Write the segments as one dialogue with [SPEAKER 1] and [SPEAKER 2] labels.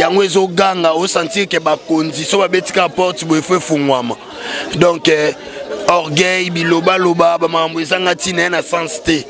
[SPEAKER 1] yango ezoganga osentir ke bakonzi so babeti kaka porte boye fo efungwama donc eh, orgueil bilobaloba bamakambo ezanga ntina ye na sens te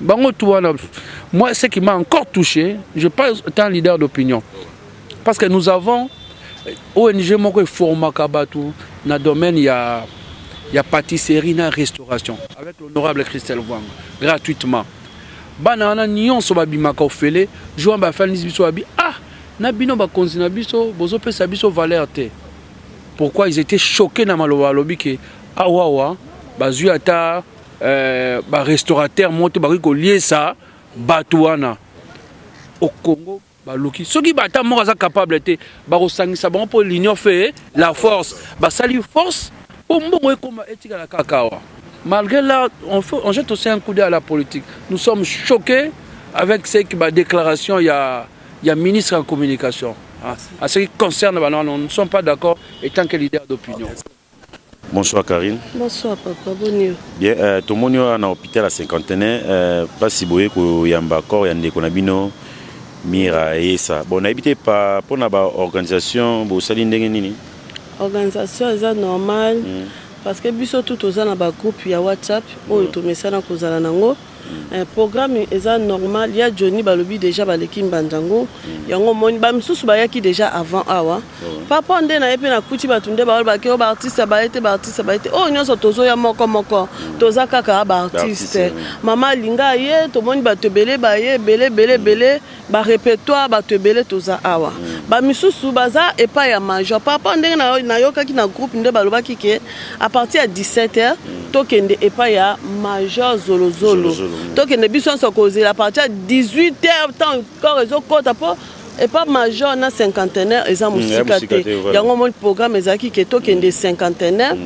[SPEAKER 2] bango tout wana moi ce qui m'a encore touché je pas un leader d'opinion parce que nous avons euh, ONG moko eformaka bato na domaine ya ya pâtisserie na restauration avec l'honorable Christelle Wang gratuitement bana wana nyonso babimaka ofele jour wana bafandisi biso babi ah na bino bakonzi na biso bozopesa biso valeur te pourquoi ils étaient choqués na maloba alobi ke awawa bazwi ata euh, ba restaurateur moto bakoki koliesa bato wana au Congo baluki soki bata moko aza capable te bakosangisa bango mpo l'union fait la force basali force mpo mbongo ekoma etikala kaka awa malgré là on, fait, on jette aussi un coup d'œil à la politique nous sommes choqués avec ce que ba déclaration ya ya ministre ya communication à ce qui concerne banana nous ne sommes pas d'accord étant que leader d'opinion Bonsoir
[SPEAKER 3] Carine. Bonsoir papa,
[SPEAKER 4] boni yo? Bien, euh, tomoni
[SPEAKER 3] yo na hôpital ya cinquantenaire euh, pasi boye koyamba corps ya ndeko na bino Mira Esa. Bon, nayebi te pa mpo na ba organisation bosali ndenge nini?
[SPEAKER 4] Organisation eza normal mm. parce que biso tout toza na ba groupe ya WhatsApp oyo mm. tomesana kozala nango Eh programme eza normal ya Johnny balobi deja baleki mbanda ngo yango omoni ba misusu bayaki deja avant awa papa nde na ye pe nakuti bato nde baolobaki o oh, baartiste baye te baartiste baye te oyo oh, nyonso tozoya moko moko toza kaka baartiste mama alinga ye tomoni bato ebele baye ebele ebele ebele ba repertoire bato ebele toza awa ba misusu baza epai ya major par rapport ndenge nayokaki na groupe nde balobaki ke à partir ya 17 heures tokende epai ya major zolozolo tokende biso nyonso kozela à partir ya 18 heures temps corps ezokota mpo epa major na cinquantenaire eza mosika te yango omoni programme ezalaki ke tokende cinquantenaire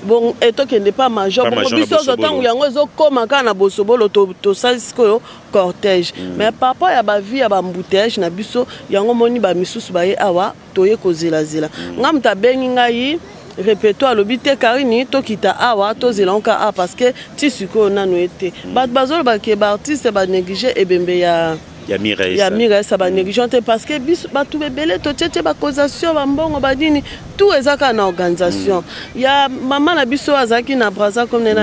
[SPEAKER 4] bon etokende eh, pa major bongo biso ozo ntango yango ezokoma kaka na bosobolo tosali sikoyo cortège mais par rapport ya ba vie ya ba embouteillages na biso yango omoni ba misusu baye awa toye kozela zela nga mutu abengi ngai Repeto alobi te Carine tokita awa tozela yango kaka awa parce que ti sikoyo nanu ye te batu bazoloba ke ba artistes ba negliger ebembe ya ya mira esa ya mira esa ba negligeant te parce que biso batu ebele totie tie ba causation ba mbongo ba nini tout eza kaka na organisation mm. ya mama na biso azalaki na braza comme na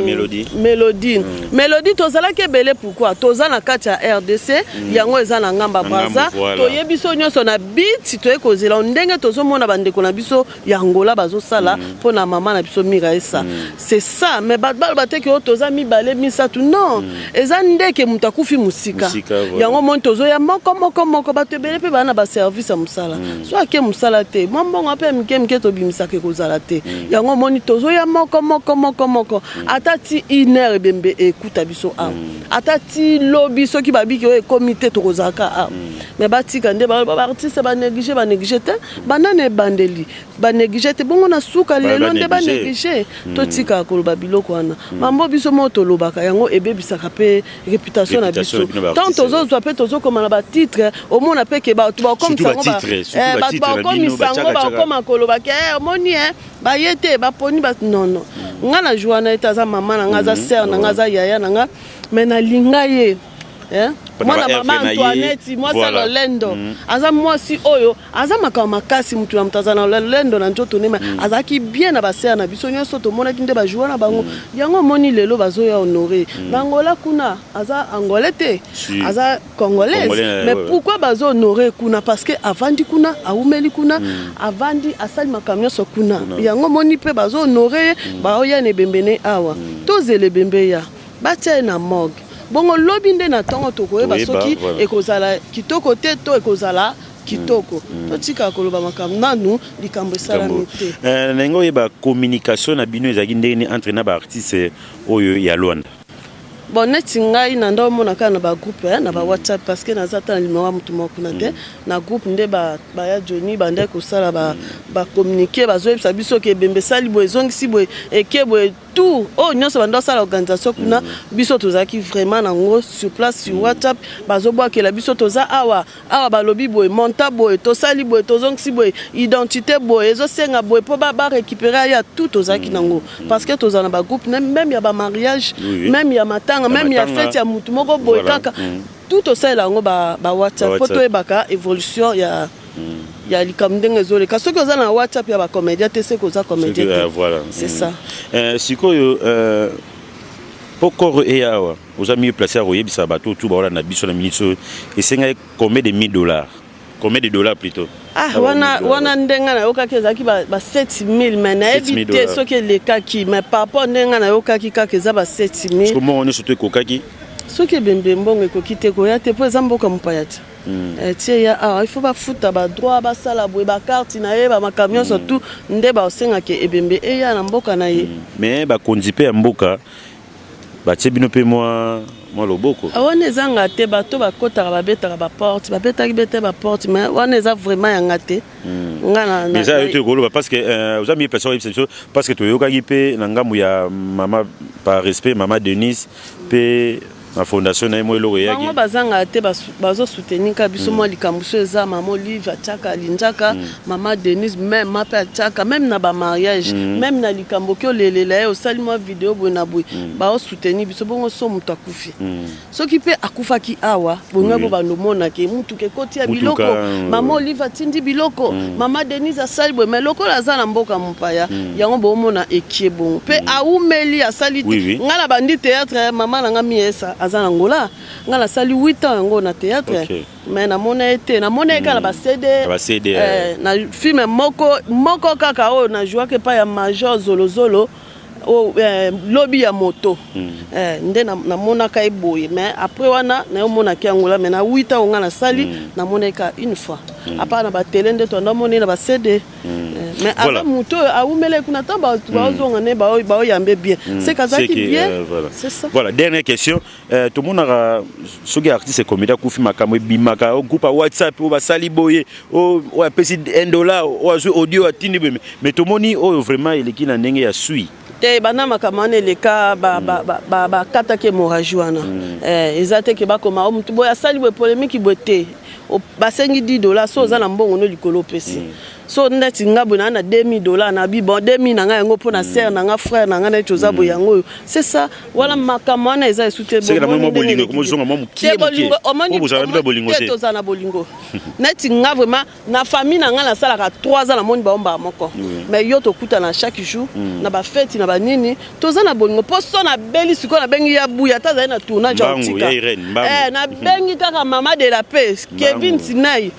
[SPEAKER 4] melodie melodie mm. melodie tozalaki ebele pourquoi toza na kati ya rdc mm. yango eza na ngamba braza toyebi biso nyonso na bit toye kozela ndenge tozomona bandeko na biso ya Angola bazosala mm. mpo na mama na biso Miraesa mm. c'est ça mais bato baloba te ke oyo toza mibale misato non mm. eza ndeke moto akufi mosika yango moni tozoya moko moko moko bato ebele mpe baa na baservice ya mosala mm. so ake mosala te mwa mbongo mpe ya mike mike tobimisaka ekozala te mm. yango moni tozoya moko moko moko moko mm. ata ti une heure ebembe ekuta biso awa mm. ata ti lobi soki babiki oyo ekomi te tokozalaka awa mm. Mais batika nde ba ba artiste ba neglige ba neglige te banda na ebandeli ba neglige te bongo na suka lelo nde ba neglige hmm. totika koloba biloko wana hmm. mambo biso moko tolobaka yango ebebisaka pe reputation na biso tant tozozwa pe tozokoma na batitre omona pe ke bato bakomsango eh, bato bakomisango bakoma koloba ke eh, omoni e baye te baponi ba nono hmm. ngai na jour wana ete aza mama na ngai aza sere na ngai aza yaya na ngai me nalinga ye Eh? mwana mama antoinette mwasi voilà. ya lolendo mm. aza mwasi oyo aza makambo makasi motu ya moto aza na lolendo na nzoto nema mm. azalaki bien na basere na biso nyonso tomonaki nde bajoua na bango mm. yango omoni lelo bazoya honore mm. na angola kuna aza angolais te si. aza congolaise Congolais, mais ouais. pourquoi bazo honore kuna parce que avandi kuna awumeli kuna mm. avandi asali makambo nyonso kuna yango omoni mpe bazo honore ye mm. baoya na ebembene awa mm. tozela ebembe ya Batia ye na morgue bongo lobi nde na tongo tokoyeba soki ekozala kitoko te to ekozala kitoko mm. mm. totika koloba makambo nanu likambo esalami te eh, ndenge oyeba
[SPEAKER 3] communication na bino ezalaki ndenge nini entre na baartiste oyo ya lwanda bon neti
[SPEAKER 4] ngai na nda omona kaka na bagroupe eh, na bawhatsapp parce que naza ata na limero ya motu moko kuna te mm. na groupe nde baya joni bandaki kosala bacommunike bazoyebisa biso ke ebembe esali boye ezongisi boye eke boye Tout oyo nionso banda kosala organisation kuna biso tozalaki vraiment na ngo sur place sur WhatsApp bazobwakela biso toza awa awa balobi boye montant boye tosali boye tozongisi boye identite boye ezosenga boye po ba recuperer aya tout tozalaki na ngo parce que tozala na ba groupe meme ya ba mariage meme ya matanga meme ya fete ya mutu moko boye kaka tout tosalela yango ba WhatsApp po toyebaka evolution ya ya likambo ndenge ezoleka soki oza na whatsapp ya bacomédien te soki oza comédien te euh, voilà. c'est
[SPEAKER 3] mm. ça euh,
[SPEAKER 4] sikoyo
[SPEAKER 3] euh, mpo koro eya awa oza mieux place ya koyebisa bato tu baolanda biso na minute oyo esengaki combien de 1000 dollars combien de dollars plutôt ah, ah wana, wana
[SPEAKER 4] ndenge nayokaki ezalaki ba, ba 7000 mai nayebi te soki elekaki mai par rapport ndenge nayokaki kaka eza ba 7000 mbongo nyonso to ekokaki
[SPEAKER 3] soki ebembe
[SPEAKER 4] mbongo ekoki te koya te mpo eza mboka mopaya te Hmm. Eh, tie ya awa ah, il faut bafuta badroit basala boye bakarte na ye bamakambo nyonso hmm. tout nde basengaka
[SPEAKER 3] ebembe
[SPEAKER 4] eya
[SPEAKER 3] na
[SPEAKER 4] mboka na ye
[SPEAKER 3] hmm.
[SPEAKER 4] mais bakonzi mpe ya mboka batie
[SPEAKER 3] bino mpe mwa mwa loboko ah, wana ezanga te
[SPEAKER 4] bato bakotaka babetaka baporte babetaki bete baporte mais wana eza vraiment yanga te eza yo te okoloba
[SPEAKER 3] parce que euh, oza miye mpensa oyebisa biso parce que toyokaki mpe na ngambo ya mama par respect mama denise mpe na fondation na ye mo eloko eyaki bango bazanga te
[SPEAKER 4] bazo soutenir ka biso mwa mm. likambo so eza mama olive atiaka alinjaka mm. mama denise meme ma mpe atiaka meme na bamariage mm. meme na likambo ki olelela ye osali mwa video boye na boye bao soutenir biso bongo so moto akufi soki mpe akufaki awa bongai bo bando omonake Motuka ekoti ya biloko, mama Olive atindi biloko, mama Denise asali boye, mais lokola aza na mboka mopaya, yango bomona ekie bongo. Pe awumeli, asali te. Nga na bandi theatre, mama na nga Miesa aza na Angola, nga nasali huit ans yango na theatre, mais namona ye te. Namona ye kaka na ba CD, eh, na film moko, moko kaka oyo na jouaka epayi ya major Zolo Zolo. O eh, lobi ya moto eh, nde na- namonaka ye boye mais après wana nayomonaki yango la mais na 8 ans oyo ngai nasali namonaki ka une fois apart na batele nde toanda omona ye na bacd Eh, mais Voilà. aza moto oyo awumelaki kuna ntango baozonga ne baoyambe bien seke azalaki Seke, bien euh, voilà. c'est ça Voilà, dernière question.
[SPEAKER 3] Eh, tomonaka soki artiste comédien akufi makambo ebimaka o oh, groupe ya whatsapp oyo oh, basali boye oh, oyo apesi 1 dollar oyo azwi audio atindi boye mais tomoni oyo vraiment eleki na ndenge ya sui te banda makambo
[SPEAKER 4] wana eleka bakataki hémorragie wana mm. eh, eza te ke bakoma o motu boye asali boye polemiki boye te basengi 10 dola so oza mm. na mbongo no likolo opesi mm. so neti nga boye naa na 2000 dola na bi bon 2000 na ngai yango mpo na sere na ngai frere na ngai neti oza boye yango oyo c'est ça wana makambo wana eza esu te
[SPEAKER 3] te tozala na bolingo
[SPEAKER 4] neti nga vraiment na famille na ngai nasalaka 3 ans namoni baombaka moko mais yo tokutana chaque jour mm. na bafeti na banini toza na bolingo mpo so nabeli sikoyo nabengi ya buya ata azali na tournage ya otika eh, nabengi kaka mama de la paix kevin sinai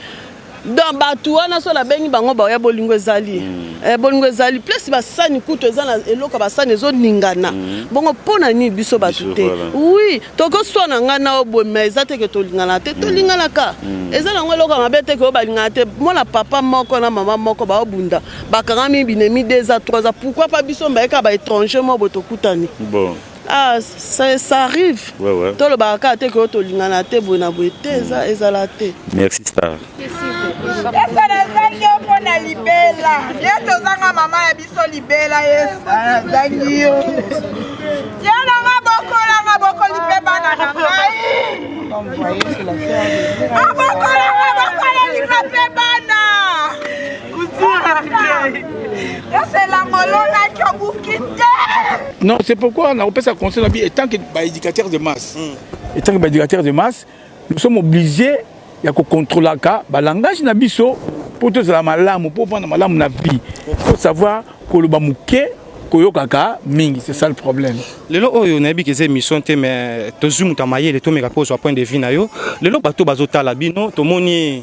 [SPEAKER 4] donc batu wana so nabengi bango baoya bolingo ezali mm. eh, bolingo ezali place basani kutu eza na eloko ya basani ezoningana mm. bongo mpo na nini biso bato te voilà. oui tokoswana ngai nao boye ma eza te ke tolingana te mm. tolinganaka mm. eza nango eloko ya mabe te ke oyo balingana te mona papa moko na mama moko baobunda bakangami binemi 2 a 3 a pourkui pa biso mbayeka baétranger moko boye tokutani bon. Ah, ça, ça arrive. Ouais, ouais. tolobaka kaka te koyo tolingana te boye na boye te eza mm. ezala te merci star
[SPEAKER 3] esa nazangi yo
[SPEAKER 5] mpo na libela ye tozanga mama ya biso libela esa nazangi yo yo nanga bokolanga bokoli mpe bana na ngai abokolanga bokolelinga mpe bana
[SPEAKER 6] Non, c'est pourquoi on a repensé à conseil la vie étant que bah, éducateur de masse. Mm. Étant que bah, éducateur de masse, nous sommes obligés ya kocontrolaka balangage na biso mpo tozala malamu mpo ovanda malamu na vie faut savoir koloba moke koyokaka mingi c'est ça le problème lelo oyo nayebi
[SPEAKER 7] ke eza émission te mais tozwi moto ya mayele tomeka mpe ozwa point de vue na yo lelo bato bazotala bino tomoni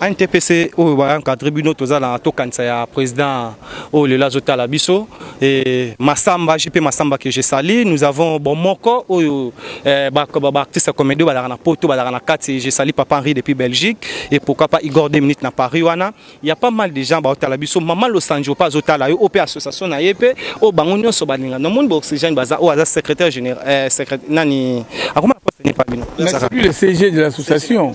[SPEAKER 6] NTPC
[SPEAKER 7] oyo ba encadre bino toza na tokanisa ya président oyo lelo azotala biso et Massamba JP Massamba que je salue nous avons bon moko oyo eh, ba, ba, ba artiste comédie balaka na poto balaka na kati je salue papa Henri depuis Belgique et pourquoi pas Igor 2 minutes na Paris wana il y a pas mal de gens baotala biso maman Losanjo pa azotala yo ope association na ye pe o bango nyonso balinga na monde ba oxygène baza oyo aza secrétaire général eh, secrétaire nani akoma na poste ni pa bino Mais c'est lui le CG de
[SPEAKER 6] l'association.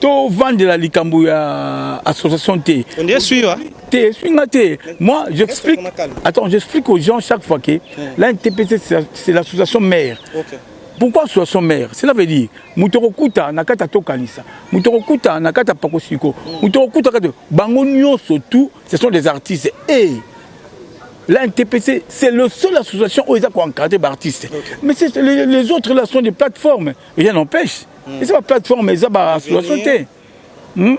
[SPEAKER 6] tovandela likambo ya association te
[SPEAKER 7] te eswi nga te moi
[SPEAKER 6] j'explique attends j'explique aux gens chaque fois que la ntpc c'est l'association mère okay. pourquoi association mère cela veut dire moto okokuta na kati atokanisa moto okokuta na kati apakosiko moto okokuta kati bango nyonso tout ce sont des artistes et hey, La NTPC, c'est le seul association où ils ont encadré d'artistes. Okay. Mais les, les autres là sont des plateformes. rien n'empêche hmm. eza baplateforme eza baassociation te hmm?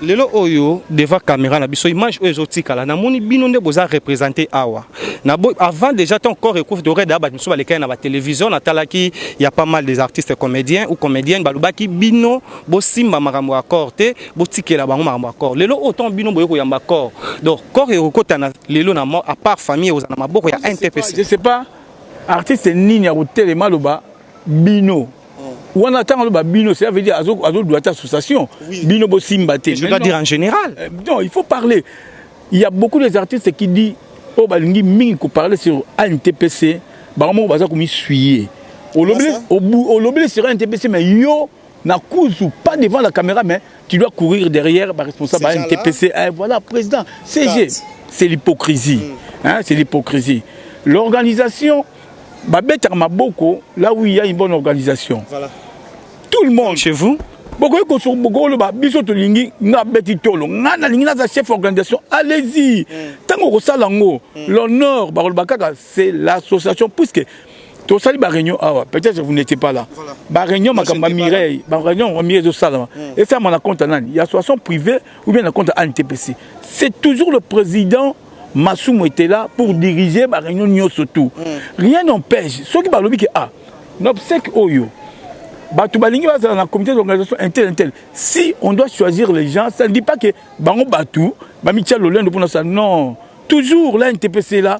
[SPEAKER 6] lelo
[SPEAKER 7] oyo devant caméra na biso image oyo ezotikala namoni bino nde boza représente awa na bo avant déjà ton corps ekouf de red abat miso balekaki na ba télévision natalaki ya pas mal des artistes comédiens ou comédiennes balobaki bino bosimba makambo ya corps te botikela bango makambo ya corps lelo oyo ton bino boye koyamba corps donc corps ekokota na lelo na mort à part famille oza na maboko ya ntpc je sais pas
[SPEAKER 6] artiste nini akotelema aloba bino wana ntango aloba bino cela veut dire azodua te association bino bosimba te je dois dire en général
[SPEAKER 7] euh, non il faut parler
[SPEAKER 6] il y a beaucoup des artistes qui dit oyo oh, balingi mingi koparle sur antpc bango moko baza komisuye olobeli sur antpc mais yo na kuzu pas devant la caméra mais tu dois courir derrière ba responsable ba NTPC eh, voilà président CG c'est l'hypocrisie mm. hein c'est l'hypocrisie l'organisation ba betaka maboko là où il y a une bonne organisation voilà tout le monde chez vous bokoki
[SPEAKER 7] kosoki bokoki
[SPEAKER 6] oloba biso tolingi nga beti tolo nga nalingi naza chef organisation allez-y ntango mm. okosala yango mm. l'honneur bakoloba kaka c'est l'association puisque tosali ba réunion awa peut-être vous n'étiez pas là ba réunion makambo ya Mireille ba réunion ya Mireille ezosalama hmm. esalama na compte ya nani ya soisson privé ou bien na compte ya ANTPC c'est toujours le président Masumu était là pour diriger ba réunion nyonso tout hmm. rien n'empêche soki balobi ke ah na obsèque oyo bato balingi bazala na comité d'organisation intel intel si on doit choisir les gens ça ne dit pas que bango bato bamitia lolendo mpo na sa non toujours la ntpc la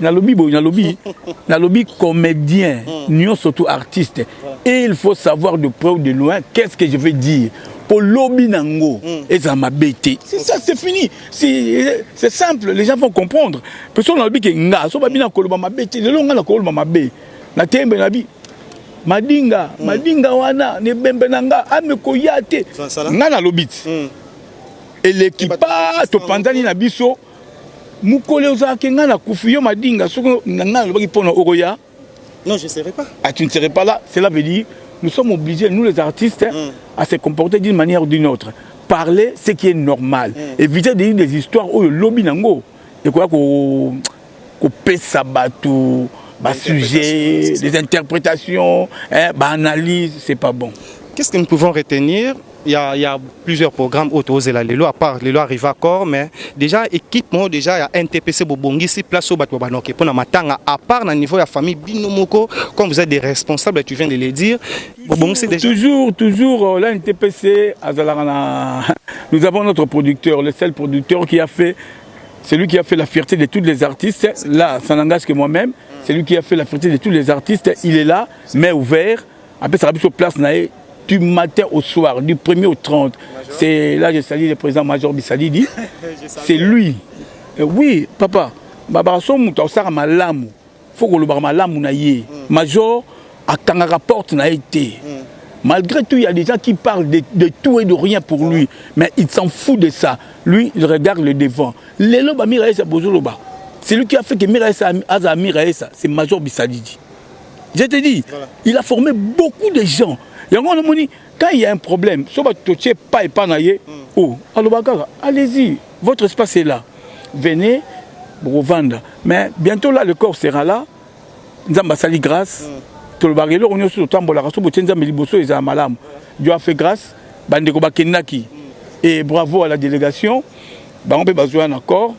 [SPEAKER 6] nalobi boye nalobi nalobi comédien hmm. nyonso tout artiste et il faut savoir de près ou de loin qu'est ce que je veux dire po lobi nango hmm. ezala mabe te c'est ça c'est fini c'est simple les gens vont comprendre pe so nalobi ke nga so babi nakoloba mabe te lelo nga nakoloba mabe na tembe nabi madinga hmm. madinga wana nebembe na nga amekoya te nga nalobi ti eleki pa topanzani na biso Mukole ozala ke nga na kufi yo madinga soko nga na lobaki pona oko ya non je serai
[SPEAKER 7] pas ah tu ne serai pas là cela
[SPEAKER 6] veut dire nous sommes obligés nous les artistes mm. à se comporter d'une manière ou d'une autre parler ce qui est normal mm. éviter de dire des histoires oyo lobi nango et quoi ko ko pesa bato ba sujets des interprétations hein, ba analyses c'est pas bon qu'est-ce que nous pouvons
[SPEAKER 7] retenir Il y, a, il y a plusieurs programmes autres ozela lelo à part lelo arrive à corps mais déjà équipe moko déjà ya NTPC bobongisi place au bato banoke pona matanga à part na niveau ya famille bino moko comme vous êtes des responsables tu viens de le dire bobongisi déjà toujours toujours euh, la
[SPEAKER 6] NTPC azalaka na nous avons notre producteur le seul producteur qui a fait celui qui a fait la fierté de tous les artistes là ça n'engage que moi-même celui qui a fait la fierté de tous les artistes il est là mais ouvert apesaka biso place na ye du matin au soir, du 1er au 30. C'est là je salue le président Major Bissalidi. C'est lui. Euh, oui, papa, babaraso moto akosaka malamu. Faut kolobaka malamu na ye. Hmm. Major akangaka porte na ye te. Hmm. Malgré tout, il y a des gens qui parlent de, de tout et de rien pour lui, mais il s'en fout de ça. Lui, il regarde le devant. Lelo ba Miraesa Bozoloba. C'est lui qui a fait que Miraesa Aza Miraesa, c'est Major Bissadidi. Je te dis, voilà. il a formé beaucoup de gens. Yango on moni quand il y a un problème, so ba totie pas et pas na ye, mm. oh, aloba kaka, allez-y, votre espace est là. Venez Bovanda. Mais bientôt là le corps sera là. Nzamba sali grâce. Mm. Tolobaka eloko nyonso totambolaka so botie Nzambe liboso ezala malamu. Dieu a fait grâce, bandeko bakendaki. Mm. Et bravo à la délégation. Bango mpe bazwa na corps.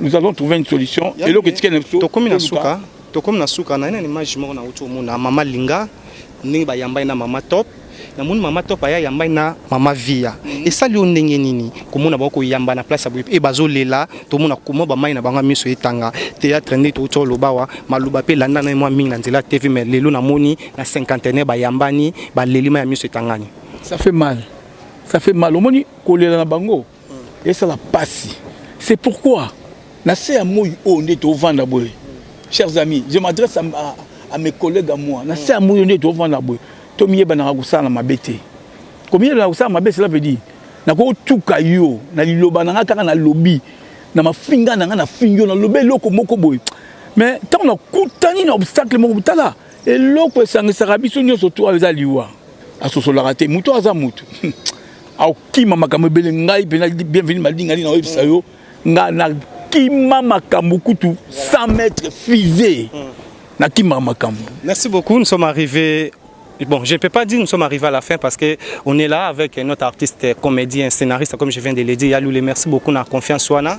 [SPEAKER 6] nous avons trouvé une solution eloko etikali na biso tokomi na suka
[SPEAKER 7] tokomi na suka na nani image moko na uti omona mama linga ndenge bayambai na mama top namoni mama top aya yambai na mama via mhm. esali yo ndenge nini komona bango koyamba na place ya boye e bazolela tomona koma bamai na bango ya miso etanga théâtre nde touti oloba awa maloba mpe elanda na ye mwa mingi na nzela tv mai lelo namoni na cinquantenaire bayambani baleli mai ya miso etangani ça fait mal
[SPEAKER 6] ça fait mal omoni kolela na bango Esala pasi. C'est pourquoi na se ya moyi oyo nde tovanda boye. Chers amis, je m'adresse à, à, à mes collègues à moi. Na se ya moyi oyo nde tovanda boye. Tomiyebanaka kosala na mabe te. Komiyebanaka kosala mabe, cela veut dire nakotuka yo na liloba na ngai kaka nalobi na mafinga na ngai nafingi yo nalobi eloko moko boye mais ntango nakutani na obstacle moko tala eloko esangisaka biso nyonso to eza liwa asosolaka te moto aza moto Akokima makambo ebele ngai mpenza bienvenu malingani na oyebisa yo ngai nakima makambo kutu 100 mètres fusée hmm. nakimaka makambo merci beaucoup nous sommes
[SPEAKER 7] arrivés Bon, je ne peux pas dire nous sommes arrivés à la fin parce qu'on est là avec notre artiste, comédien, scénariste, comme je viens de le dire, Yaloulé. Merci beaucoup, on a confiance, Wana.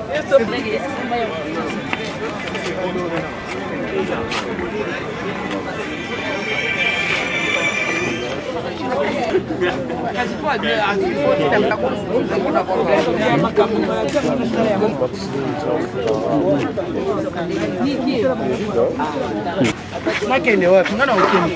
[SPEAKER 8] nakende wapi nga na okende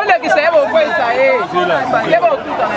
[SPEAKER 6] olekisa ye bokwesa ye ye bokutana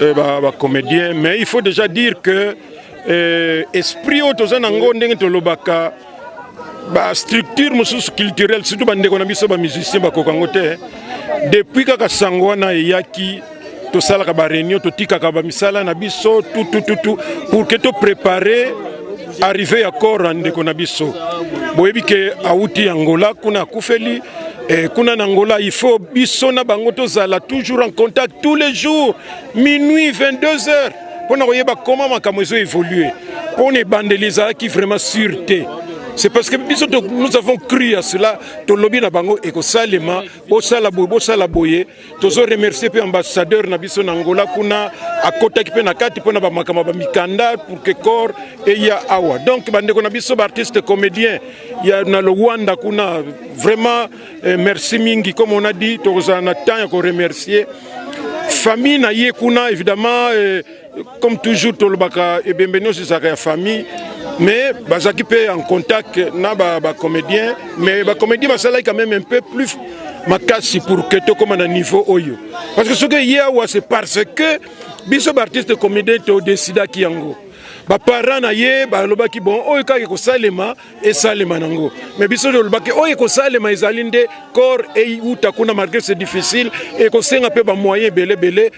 [SPEAKER 9] Eh, ba, ba comédien mais il faut déjà dire que euh, esprit oyo toza na ngo ndenge tolobaka bastructure mosusu culturelle surtout bandeko na biso bamusicien bakoka yango te depuis kaka sango wana eyaki tosalaka ba réunion totikaka ba misala na biso tout tout tout tout pour que to préparer arrivée ya corps ndeko na biso boyebi ke awuti Angola kuna akufeli eh, kuna na Angola il faut biso na bango tozala toujours en contact tous les jours minuit 22 heures mpo na koyeba koma makambo ezo évoluer mpo na ebandeli ezalaki vraiment sur te c'est parce que biso nous avons cru à cela tolobi na bango ekosalema bosala boye bosala boye tozo remercier mpe ambassadeur na biso na Angola kuna akotaki mpe na kati mpo na bamakambo ya bamikanda pour que corps eya awa donc bandeko na biso baartiste comédien ya na Luanda kuna vraiment eh, merci mingi comme on a dit tokozala na temps ya koremercier famille na ye kuna évidemment eh, Comme toujours tolobaka ebembe nyonso ezalaka ya famille mais bazalaki mpe en contact na bacomédien ba mais bacomédien basalaki quand même un peu plus makasi pour que tokóma na niveau oyo parce que soki eye awa c'est parce que biso baartiste comédien todesidaki yango baparent na ye balobaki bon oyo kaka ekosalema esalema nango mais biso tolobaki oyo ekosalema ezali nde corps eyuta kuna malgré c'est difficile ekosenga mpe bamoyen ebele ebele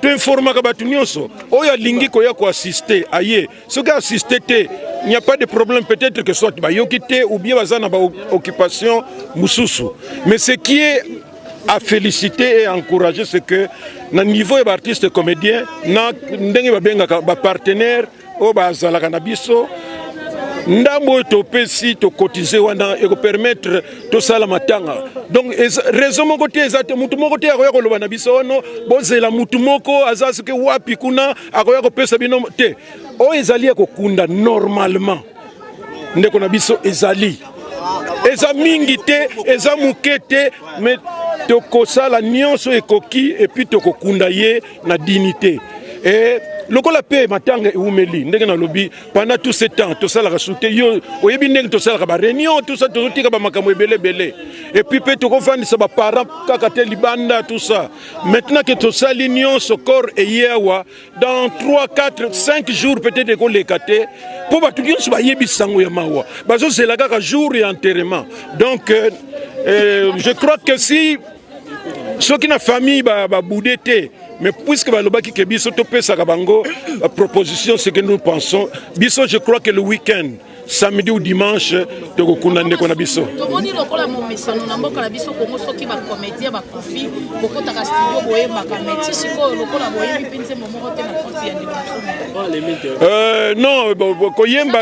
[SPEAKER 9] toinformaka bato nyonso oyo alingi koya koasiste aye soki asiste te il n'y a pas de problème peut-être que soit bayoki te ou bien baza na baoccupation mosusu mais ce qui est à féliciter et à encourager c'est que na niveau ya baartiste comédien na ndenge babengaka bapartenaire oyo bazalaka na biso ndambo oyo topesi tokotize wana ekopermettre tosala matanga donc raison moko te eza te motu moko te akoya koloba na biso ono oh bozela motu moko aza soki wapi kuna akoya kopesa bino te oyo ezali ya kokunda normalement ndeko na biso ezali eza mingi te eza moke te mais tokosala nyonso ekoki epuis tokokunda ye na dignité et lokola mpe matanga eumeli ndenge nalobi pendant tout ce temps tosalaka su te yo oyebi ndenge tosalaka bareunion tout ça tozotika bamakambo ebele ebele epuis mpe tokofandisa baparent kaka te libanda tout ça maintenant ke tosali nyonso corps eye awa dans 3 4 5 jours peut-être ekoleka te mpo bato nyonso bayebi sango ya mawa bazozela kaka jour ya enterrement donc euh, euh, je crois que si soki na famille baboude ba te mais puisque balobaki ke biso topesaka bango euh, proposition ce que nous pensons biso je crois que le week-end samedi ou dimanche tokokunda ndeko na biso tomoni lokola
[SPEAKER 10] momesano na mboka na biso kongo soki bacomédien bakufi bokotaka studio boyembaka meti sikoyo lokola boyebi mpenze Euh, non, euh, koyemba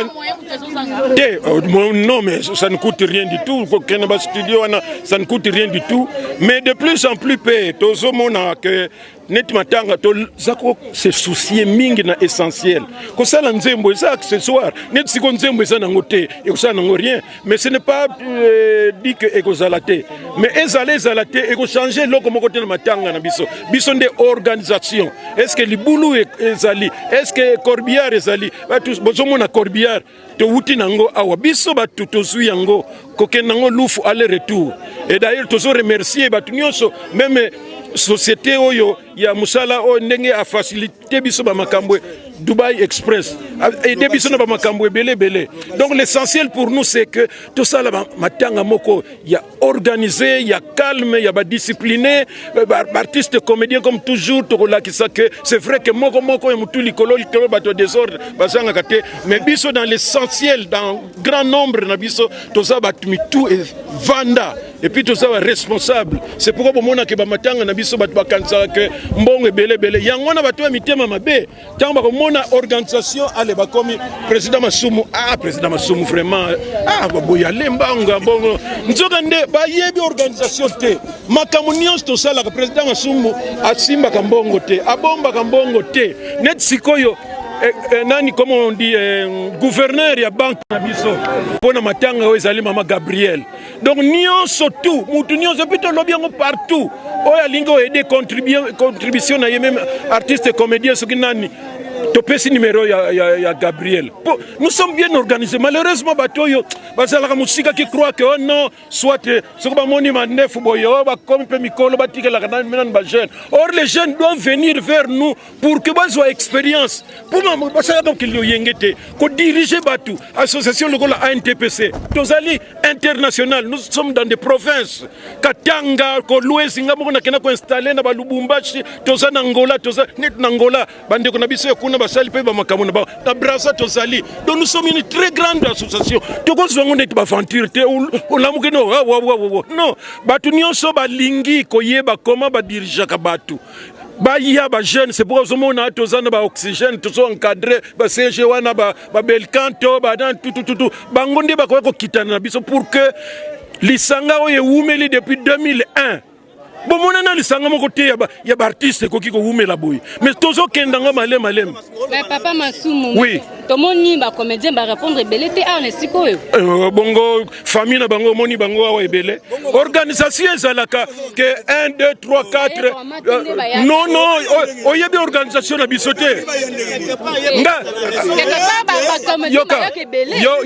[SPEAKER 10] te euh,
[SPEAKER 9] non mais ça ne coûte rien du tout kokende ba studio wana ça ne coûte rien du tout mais de plus en plus mpe tozomona que neti matanga toza kose soucie mingi na essentiel kosala nzembo eza accessoire neti siko nzembo eza nango te ekosala nango rien mais ce n'est pas euh, dit que ekozala te mais ezala ezala te ekochange eloko moko te na matanga na biso biso nde organisation est ce que libulu e, ezali est ce que corbillard ezali bozomona corbillard towuti na yango awa biso bato tozwi yango kokende yango lufu aller retour et d'ailleurs tozo remercier bato nyonso meme société oyo ya mosala oyo ndenge afacilite te biso ba makambo Dubai Express aide biso na ba makambo ebele ebele donc l'essentiel pour nous c'est que tosala matanga moko ya organisé ya calme ya ba discipliné euh, ba artiste comédien comme toujours tokolakisa que c'est vrai que moko moko ya mutu likolo likolo bato désordre bazangaka te mais biso dans l'essentiel dans grand nombre na biso toza bato mitu evanda Et puis tout ça va responsable. C'est pourquoi bon mona que ba matanga na biso ba kanisa que mbongo ebele bele. Yango na bato ya mitema mabe. Tango ba mona organisation ale ba komi président Masumu. Ah président Masumu vraiment. Ah ba boya lemba nga bongo. Nzoka nde ba yebi organisation te. Makambo nyonso tosala ka président Masumu asimba ka mbongo te. Abomba ka mbongo te. Net sikoyo Eh, eh, nani comme on dit eh, gouverneur ya banque na biso mpo na matanga oyo ezali mama gabriel donc nyonso tout mutu nyonso epuis tolobi yango partout oyo alingi oaide contribution na ye meme artiste comédien soki nani topesi numero ya, ya, ya gabriel po nous sommes bien organisé malheureusement bato oyo bazalaka mosika ki croit ke oh non soit eh, soki bamoni mandefu boye oyo oh, bakomi mpe mikolo batikelaka nani bajeune or les jeunes doivent venir vers nous pour que bazwa expérience mpo basala mokili loyenge te kodirige bato association lokola antpc tozali international nous sommes dans des provinces katanga kolwezi nga moko nakenda koinstalle na balubumbashi toza na ngola toza neti na ngola bandeko na biso ya kuna basali mpe bamakambo na bango na brasa tozali donc nous sommes une très grande association tokozwa yango neti baventure te olamuki no wawawawa non bato nyonso balingi koyeba koma badirigeaka bato baya ba jeune c'est pourquoi ozomona toza na ba oxygène tozo encadre ba CG wana ba, ba belcanto ba nan tutututu bango nde bakoki kokitana na biso pour que lisanga oyo ewumeli depuis 2001 bomona na lisanga moko te ya baartiste ekoki kowumela boye mais tozokenda ngo malema malema papa
[SPEAKER 11] masumu oui tomoni
[SPEAKER 9] bacomédien
[SPEAKER 11] barépondre ebele te awa na esika oyo euh, bongo
[SPEAKER 9] famille na bango omoni bango awa ebele organisation ezalaka ke 1 2 3 4 non non oyebi organisation na biso te nga yoka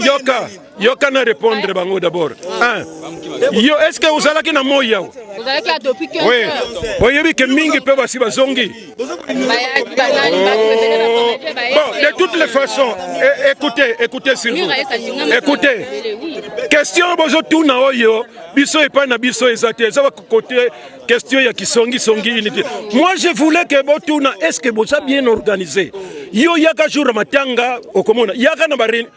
[SPEAKER 9] yoka yoka na répondre bango d'abord ah. yo est ce que ozalaki na moi yawa
[SPEAKER 11] oyebi
[SPEAKER 9] ke mingi mpe basi bazongi Bon, de toutes les façons, eh, écoutez, écoutez s'il vous Écoutez. Question bozo tuna oyo biso epai na biso eza te eza côté question ya kisongi songi unité. Moi je voulais que botuna est-ce que boza bien organisé? Yo yaka jour matanga okomona yaka na barine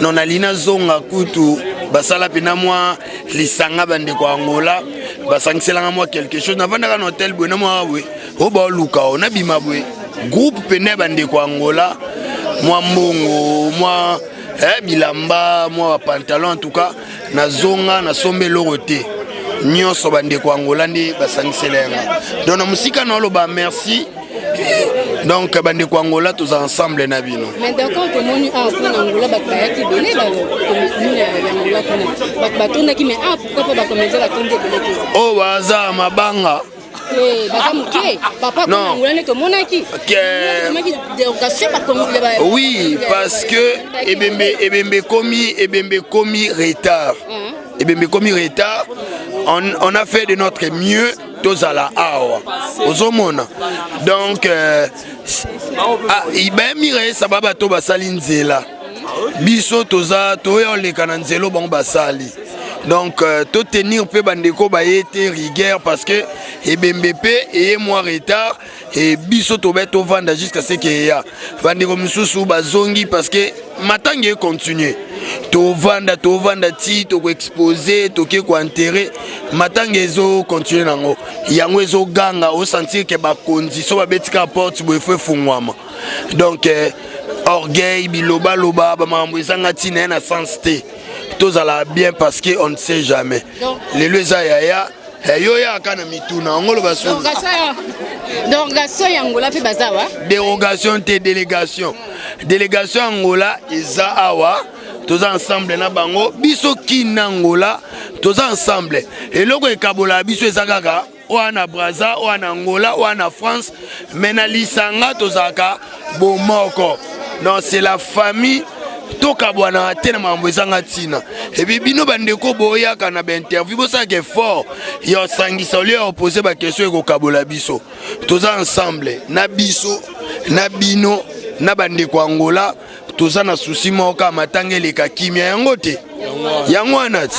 [SPEAKER 1] non nalingi nazonga kutu basala mpena mwa lisanga bandeko ya angola basangiselanga mwa quelque chose navandaka na hotel boye na mwa boye oyo baoluka o nabima boye groupe mpena ya bandeko ya angola mwa mbongo mwa eh, bilamba mwa bapantalon en tout cas na zonga na somba eloko te nyonso bandeko ya angola nde basangisela yanga donc na mosika na oloba merci donc bandeko ya angola toza ensemble na bino mais d'accord tomoni
[SPEAKER 11] awa ah, mpona angola bato bayaki ebele bakomikuna ya angola kuna bato batondaki mais awa ah, pourkoi mpo bakomeza batondi ebele te oyo oh, baza
[SPEAKER 1] mabanga Eh, baza moke
[SPEAKER 11] papa konangola nde tomonaki
[SPEAKER 1] oui parce que ebembe ebembe ekomi ebembe ekomi retard uh-huh. ebembe ekomi retard on, on a fait de notre mieux tozala awa ozomona donc euh, ah, bayamira esaba bato basali nzela biso toza toya oleka na nzelo bango basali donc euh, to tenir mpe bandeko baye te rigueur parce que ebembe mpe eye mwa retard e biso tobe tovanda jusqu'à ce que eya bandeko mosusu bazongi parce que matanga econtinue tovanda tovanda ti tokoexpose toke koentere matanga ezocontinue nango yango ezoganga osentir ke bakonzi so babetika porte boye fo efungwama donc eh, orgueil bilobaloba bamakambo ezanga ntina ye na sens te tozala bien parce que on ne sait jamais lelo eza yaya eh, yo yaka na mituna yango oloba derogation ya
[SPEAKER 11] angola mpe baza wa derogation te
[SPEAKER 1] délégation délégation ya angola eza awa toza ensemble na bango biso kin na angola toza ensemble eloko ekabolaka biso eza kaka oya na braza oya na angola oya na france mais na lisanga tozalaka bomoko non c'est la famille tokabwanaka te na makambo ezanga ntina epi bino bandeko boyaka na bainterview bosalaka effort ya osangisa olio ya opose bakestion ekokabola biso toza ensemble na biso na bino na bandeko angola toza na susi moko kaka matanga eleka kimia yango te yango wana ti